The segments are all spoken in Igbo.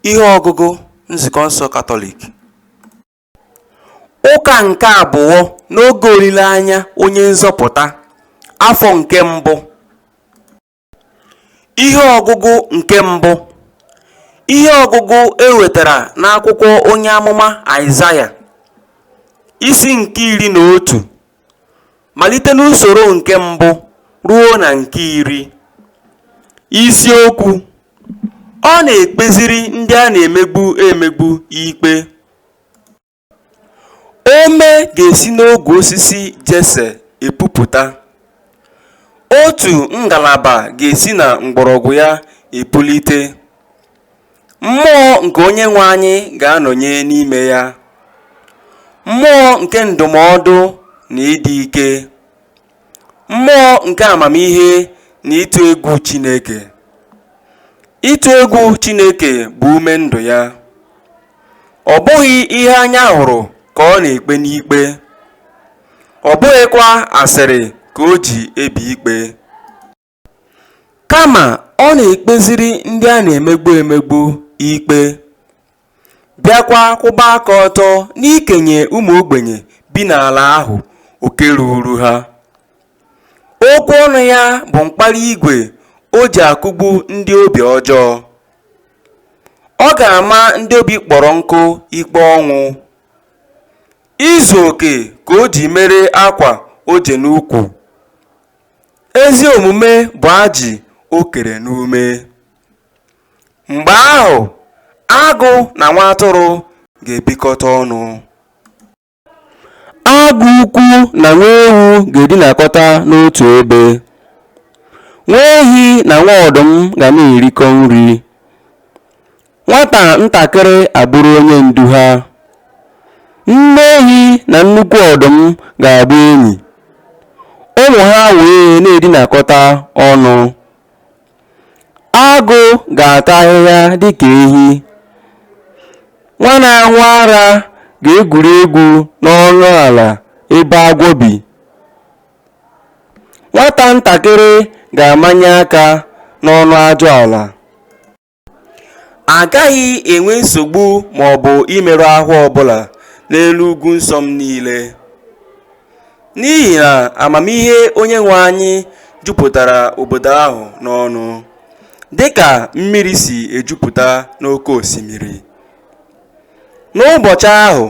ihe ọgụgụ nzukọ nsọ katọlik ụka nke abụọ n'oge olileanya onye nzọpụta afọ nke mbụ ihe ọgụgụ nke mbụ ihe ọgụgụ e wetara n'akwụkwọ onye amụma aịzaya isi nke iri na otu malite n'usoro nke mbụ ruo na nke iri. Isiokwu Ọ na-ekpeziri ndị a na-emegbu emegbu ikpe. Ome ga-esi n'ogwe osisi Jese epupụta. Otu ngalaba ga-esi na mgbọrọgwụ ya epulite. Mmụọ nke Onyenwe anyị ga-anọnye n'ime ya, mmụọ nke ndụmọdụ na ịdị ike, mmụọ nke amamihe na ịtụ egwu Chineke. Ịtụ egwu Chineke bụ ume ndụ ya. Ọ bụghị ihe anya hụrụ ka ọ na-ekpe n'ikpe, ọ bụghịkwa asịrị ka o ji ebi ikpe. Kama ọ na-ekpeziri ndị a na-emegbu emegbu ikpe, bịakwa kwụba aka ọtọ n'ikenye ụmụ ogbenye bi n'ala ahụ oke ruuru ha. Okwu ọnụ ya bụ mkpara igwe o ji akụgbu ndị obi ọjọọ. Ọ ga-ama ndị obi kpọrọ nkụ ikpe ọnwụ. Izu oke ka o ji mere akwa o je n'ukwu. Ezi omume bụ ajị o kere n'ume. Mgbe ahụ, agụ na nwa atụrụ ga-ebikọta ọnụ. Agụ ukwu na nwa ewu ga-edinakọta n'otu ebe. Nwa ehi na nwa ọdụm ga na-erikọ nri. Nwata ntakịrị abụrụ onye ndu ha. Nne ehi na nnukwu ọdụm ga-abụ enyi, ụmụ ha wee na-edinakọta ọnụ. Agụ ga-ata ahịhịa dị ka ehi. Nwa na-aṅụ ara ga-egwuri egwu n'ọnụ ala ebe agwọ bi. Nwata ntakịrị ga-amanye aka n'ọnụ ajụala. A gaghị enwe nsogbu ma ọ bụ imerụ ahụ ọbụla n'elu ugwu nsọ m niile, n'ihi na amamihe Onyenwe anyị jupụtara obodo ahụ n'ọnụ, dịka mmiri si ejupụta n'oke osimiri. N'ụbọchị ahụ,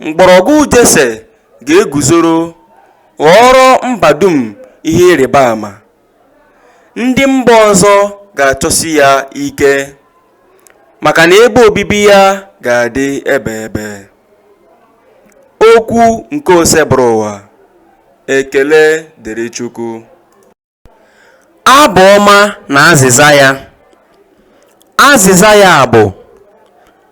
mgbọrọgwụ Jese ga-eguzoro ghọọrọ mba dum ihe ịrịba ama. ndị mba ọzọ ga-achọsi ya ike maka na ebe obibi ya ga-adị ebeebe okwu nke osebụrụwa ekele dịrị chukwu abụ ọma na azịza ya azịza ya bụ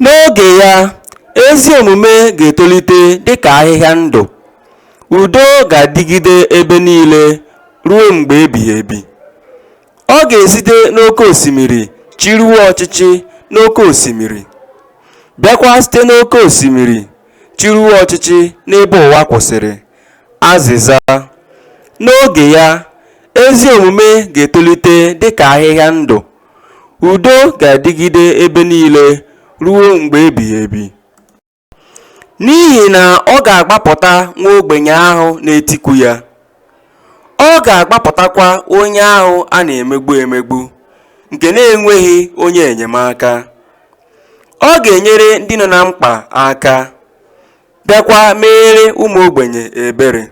N'oge ya, ezi omume ga-etolite dị ka ahịhịa ndụ, udo ga-adịgide ebe niile ruo mgbe ebighị ebi. Ọ ga-esite n'oke osimiri chịruo ọchịchị n'oke osimiri, bịakwa site n'oke osimiri chịruo ọchịchị n'ebe ụwa kwụsịrị. Azịza, N'oge ya, ezi omume ga-etolite dị ka ahịhịa ndụ, Udo ga-adịgide ebe niile ruo mgbe ebighị ebi. N'ihi na ọ ga-agbapụta nwa ogbenye ahụ na-etiku ya, ọ ga-agbapụtakwa onye ahụ a na-emegbu emegbu, nke na-enweghị onye enyemaka. Ọ ga-enyere ndị nọ na mkpa aka, bịakwa meere ụmụ ogbenye ebere.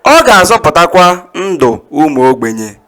Ọ ga-azọpụtakwa ndụ ụmụ ogbenye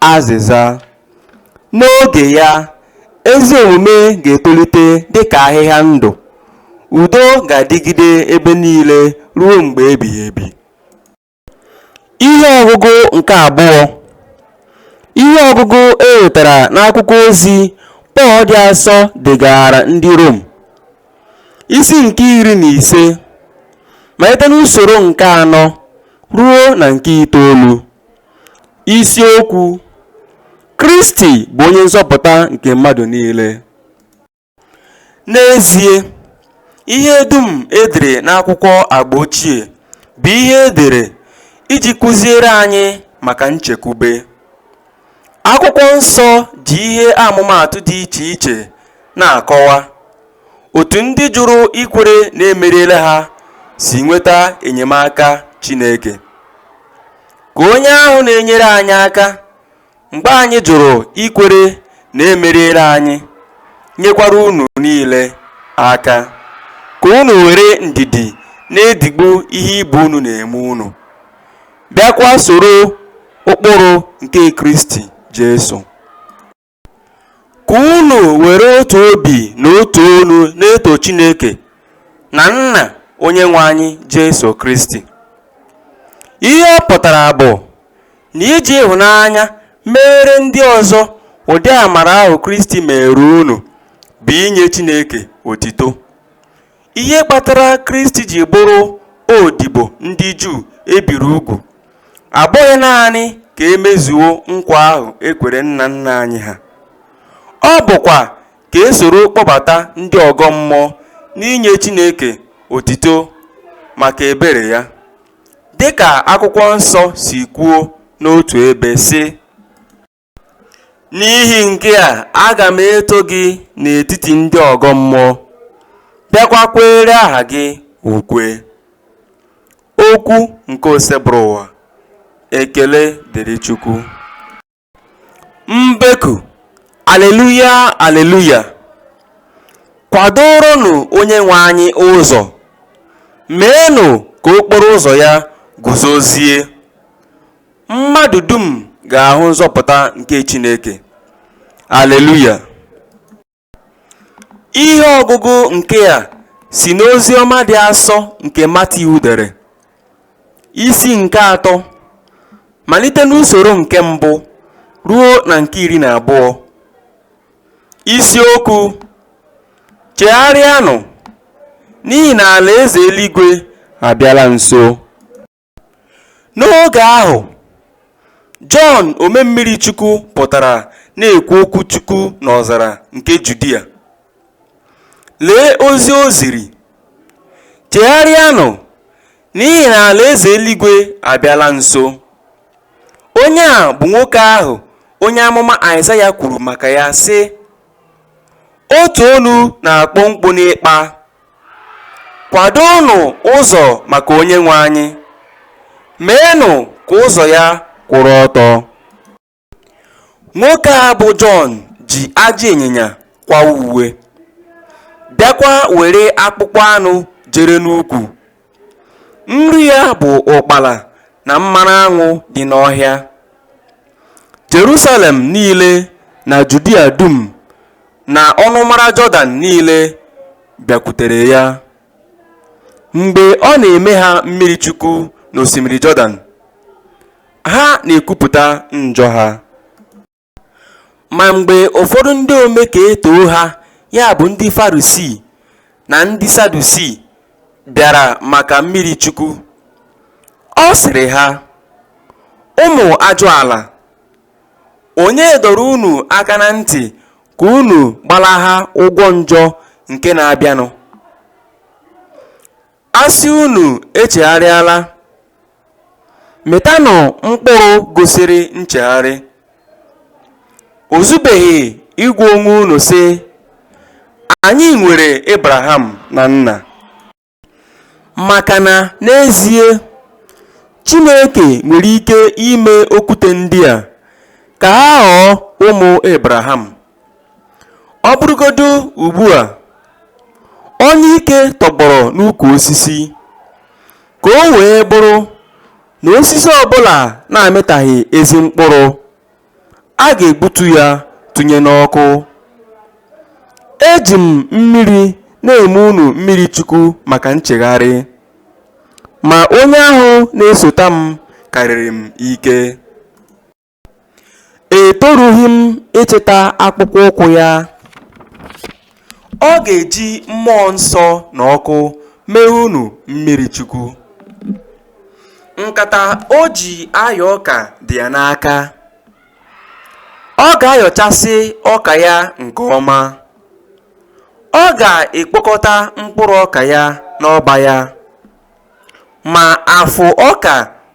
Azịza, N'oge ya, ezi omume ga-etolite dị ka ahịhịa ndụ, udo ga-adịgide ebe niile ruo mgbe ebighị ebi. Ihe ọgụgụ nke abụọ Ihe ọgụgụ e wetara n'akwụkwọ ozi Pọl dị asọ degaara ndị Rom, isi nke iri na ise, malite n'usoro nke anọ ruo na nke itoolu. Isiokwu, Kristi bụ onye nzọpụta nke mmadụ niile. N'ezie, ihe dum e dere n'akwụkwọ Agba Ochie bụ ihe e dere iji kụziere anyị maka nchekwube. Akwụkwọ Nsọ ji ihe amụmaatụ dị iche iche na-akọwa Otu ndị jụrụ ikwere na e meriela ha si nweta enyemaka Chineke. Ka onye ahụ na-enyere anyị aka mgbe anyị jụrụ ikwere na e meriela anyị, nyekwara unu niile aka, ka unu were ndidi na-edigbu ihe ibe unu na-eme unu, bịakwa soro ụkpụrụ nke Kristi Jesu. Ka unu were otu obi na otu onu na-eto Chineke na Nna Onyenwe anyị Jesu Kristi. Ihe ọ pụtara bụ na iji ịhụnanya meere ndị ọzọ ụdị amara ahụ Kristi meere unu bụ inye Chineke otito. Ihe kpatara Kristi ji bụrụ odibo ndị Juu e biri ugwu abụghị naanị ka e mezuo nkwa ahụ e kwere nna nna anyị ha, ọ bụkwa ka e soro kpọbata ndị ọgọ mmụọ n'inye Chineke otito maka ebere ya. Dị ka Akwụkwọ Nsọ si kwuo n'otu ebe, sị, N'ihi nke a, aga m eto gị n'etiti ndị ọgọ mmụọ, bịakwa kweere aha gị ukwe. Okwu nke Osebụrụwa. Ekele dịrị Chukwu. Mbeku, Aleluya, Aleluya! Kwadooronụ Onyenwe anyị ụzọ, meenụ ka okporo ụzọ ya guzozie. Mmadụ dum ga-ahụ nzọpụta nke Chineke. Aleluya! Ihe ọgụgụ nke a si n'ozi ọma dị asọ nke Matiu dere, isi nke atọ, malite n'usoro nke mbụ ruo na nke iri na abụọ. Isiokwu, Chegharịanụ, n'ihi na alaeze eluigwe abịala nso. N'oge ahụ, Jọn Omemmirichukwu pụtara na-ekwu okwu Chukwu n'ọzara nke Judia. Lee ozi o ziri, Chegharịanụ, n'ihi na alaeze eluigwe abịala nso. Onye a bụ nwoke ahụ onye amụma Aịzaya kwuru maka ya, sị, Otu olu na-akpọ mkpu n'ikpa Kwadonụ ụzọ maka Onyenwe anyị, meenụ ka ụzọ ya kwụrụ ọtọ. Nwoke a bụ Jọn ji ajị ịnyịnya kwawa uwe, bịakwa were akpụkpọ anụ jere n'ukwu. Nri ya bụ ụkpala na mmanụ aṅụ dị n'ọhịa. Jerusalem niile na Judia dum na ọnụmara Jọdan niile bịakwutere ya. Mgbe ọ na-eme ha mmiri chukwu n'osimiri Jọdan, ha na-ekwupụta njọ ha. Ma mgbe ụfọdụ ndị ome ka e too ha, ya bụ ndị Farisii na ndị Sadusii bịara maka mmiri Chukwu, ọ sịrị ha, Ụmụ ajụala, onye dọrọ unu aka na ntị ka unu gbalaha ụgwọ njọ nke na-abịanụ? A sị unu echegharịala, mịtanụ mkpụrụ gosiri nchegharị. O zubeghị ịgwa onwe unu, sị, Anyị nwere Abraham na nna. Maka na n'ezie, Chineke nwere ike ime okwute ndị a ka ha ghọọ ụmụ Abraham. Ọ bụrụgodu ugbu a, onyike tọgbọrọ n'ukwu osisi, ka o wee bụrụ na osisi ọ bụla na-amịtaghị ezi mkpụrụ, a ga-egbutu ya tụnye n'ọkụ. Eji m mmiri na-eme unu mmiri chukwu maka nchegharị, ma onye ahụ na-esota m karịrị m ike. Etorughị m ịchịta akpụkpọ ụkwụ ya. Ọ ga-eji mmụọ nsọ na ọkụ mee unu mmiri chukwu. Nkata o ji ayọ ọka dị ya n'aka. Ọ ga-ayọchasị ọka ya nke ọma. Ọ ga-ekpokọta mkpụrụ ọka ya n'ọba ya. Ma afụ ọka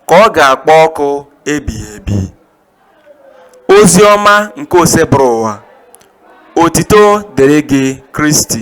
ka ọ ga-akpọ ọkụ ebighị ebi. Ozi ọma nke Osebụrụwa. Otito dịrị gị Kristi.